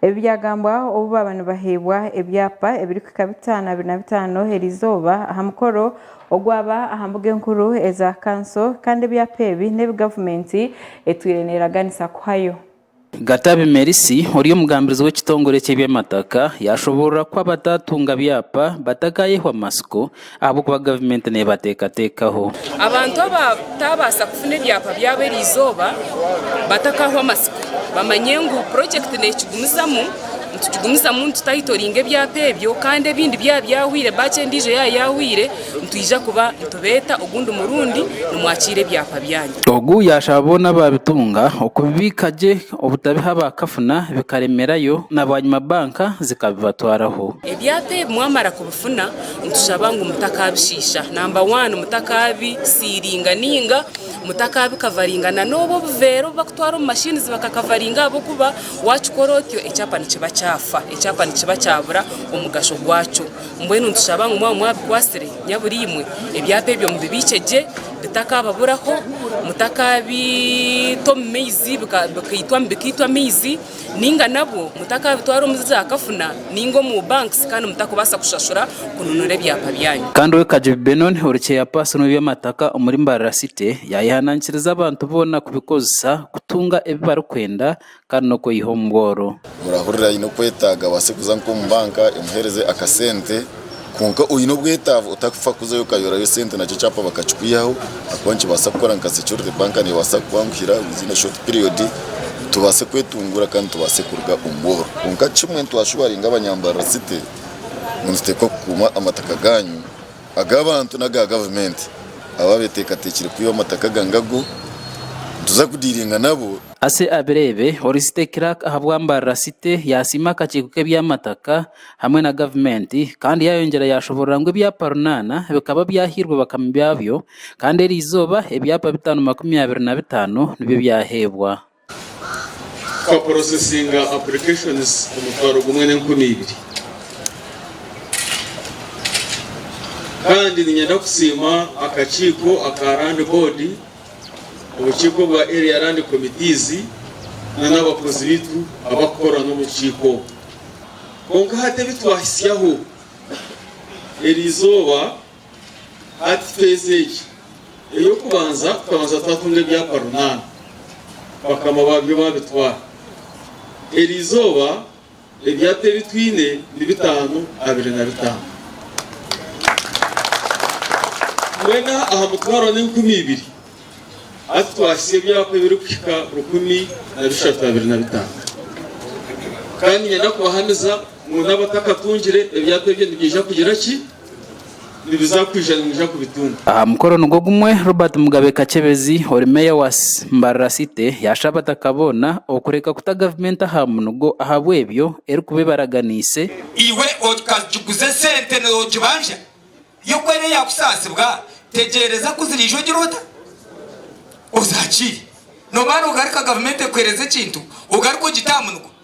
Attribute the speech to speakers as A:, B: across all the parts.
A: Ebi byagambwa obu baaba nibaheebwa ebyapa ebirikuhika bitaano abiri na bitaano eri izooba aha mukoro ogwaba aha mbuga enkuru eza kanso kandi ebyapa ebi n'ebi gavumenti etwire neeraganisa kuhayo. Gatabi
B: Mercy ori omugambirizi w'ekitongore ky'ebyamataka yaashoboorora ku abataatunga byapa batakaayehwa matsiko Ahabw'okuba gavumenti neebateekateekaho. Abantu
C: abataabaasa kufuna ebyapa byabo eriizooba batakahwe amatsiko bamanye ngu purojekiti neekigumizamu, nitukigumizamu nitutayitoringa ebyapa ebyo kandi ebindi byaba byahweire baaki endiijo yaaba yahweire nitwija kuba nitubeeta ogundi murundi nimwakiira ebyapa byanyu. Ogu yaashaba boona
B: abaabitunga okubibiika gye obutabiha abaakafuna bikaremerayo na bwanyima banka zikabibatwaraho. Ebyapa ebi
C: mwamara kufuna nitushaba ngu mutakaabishiisha namba wani mutakabisiiringa nainga mutakaabikavaringa na n'obu obuveera obu barikutwara omu mashiini zi bakakavaringa ahabw'okuba waakikora otyo ekyapa nikiba kyafa ekyapa nikiba kyabura omugasho gwakyo mbwenu nitushaba ngu mwaba mwabikwatsire nyaburiimwe ebyapa ebyo mubibiikye gye bitakababuraho mutakaabita omu maizi bikaitwamu bikaitwa amaizi. Ninga nabwo mutakaabitwara omu za kafuna ninga omu banks kandi mutakubaasa kushashura kununura ebyapa byanyu. Kandi owek Kajubi Benon
B: ori chairperson w'ebyamataka omuri Mbarara City yayehanaankiriza abantu boona kubikozesa kutunga ebi barikwenda kandi n'okweyiha omu bworo. Murahurira aine
D: okwetaaga abaase kuza nk'omu banka emuheereze akasente. Kwonka oine obwetaavu otakufa kuzayo okayorayo sente nakyo ekyapa bakakikwihaho ahakuba nikibaasa kukora nka security bank neebaasa kukwanguhira within a short period tubaase kwetunguura kandi tubaase kuruga omu bworo kwonka kimwe nitwashuuwaringa abanyambarara city ngu nituteekwa kukuuma amataka gaanyu ag'abantu n'aga gavumenti abo abeeteekateekire kwiba amataka aga ngago nituza kudiiringa nabo. Ase abireebe,
B: ori city clerk ahabw'ambarara city yaasiima akakiiko k'eby'amataka hamwe na gavumenti kandi yaayongyera yaashoboorora ngu ebyapa runaana bikaba byahairwe bakama baabyo kandi eri izooba ebyapa bitaano makumi abiri na bitaano nibyo byaheebwa.
E: Twaporosesinga applications omutwaro gumwe n'enkumi ibiri kandi niinyenda kusiima akakiiko aka Land Board, Obukiiko bwa Area Land Committees nana abakozi baitu abarikukora n'omu bukiiko obu. Kwonka hati ebi twahitsyaho eri izooba hati feezi egi ey'okubanza tukabanza twatunga ebyapa runaana bakama baabyo baabitwara. Eri izooba Ebyapa ebi twine ni bitaano abiri na bitaano. Twena aha mutwaro n'enkumi ibiri, hati twahitsya ebyapa ebirikuhika rukumi na bishatu abiri na bitaano. Kandi niinyenda kubahamiza ngu n'abatakatungire, ebyapa ebyo nibiija kugira ki? nibiza kwija nimwija kubitunga. Aha mukoro nigwo
B: gumwe, Robert Mugabe Kakyebezi ori Meeya wa Mbarara City yaasha abataka boona okureka kuta gavumenti aha munugo ahabw'ebyo erikuba ebaraganiise. Iwe
F: okagiguza esente nogibanja yo ku eriyo yakusaasibwa tegyereza ku ziriija ogira ota? Ozakiire. Noba nogarika gavumenti ekuhereza ekintu ogaruka ogite aha munugo.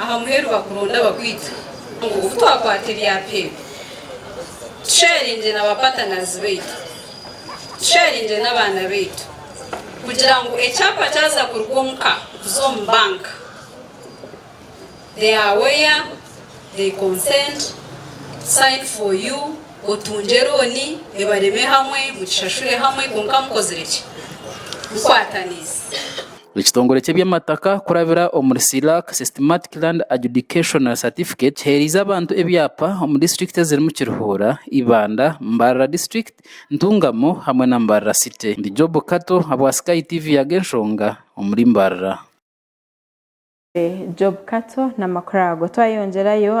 G: Aha muheru wa kuronda abakwiita ngu obu twakwata ebyapa ebi, tusheringye na bapatanaazi baitu, tusheringye n'abaana baitu kugira ngu ekyapa kyaza kuruga omu ka kuza omu banka, they are aware, they consent, sign for you, otungye looni, ebareme hamwe, mugishashure hamwe kwonka mukozire ki? Mukwataniise.
B: Ekitongore ky'eby'amataka kurabira omuri CLAC, Systematic Land Adjudication and Certificate, kiheereize abantu ebyapa omu disiturikiti ezirimu Kiruhura, Ibanda, Mbarara District, Ntungamo hamwe na Mbarara City. Ndi Job Kato ahabwa Sky TV yaga enshonga omuri Mbarara. Job
A: Kato n'amakuru
B: ago.
A: Twayongyerayo.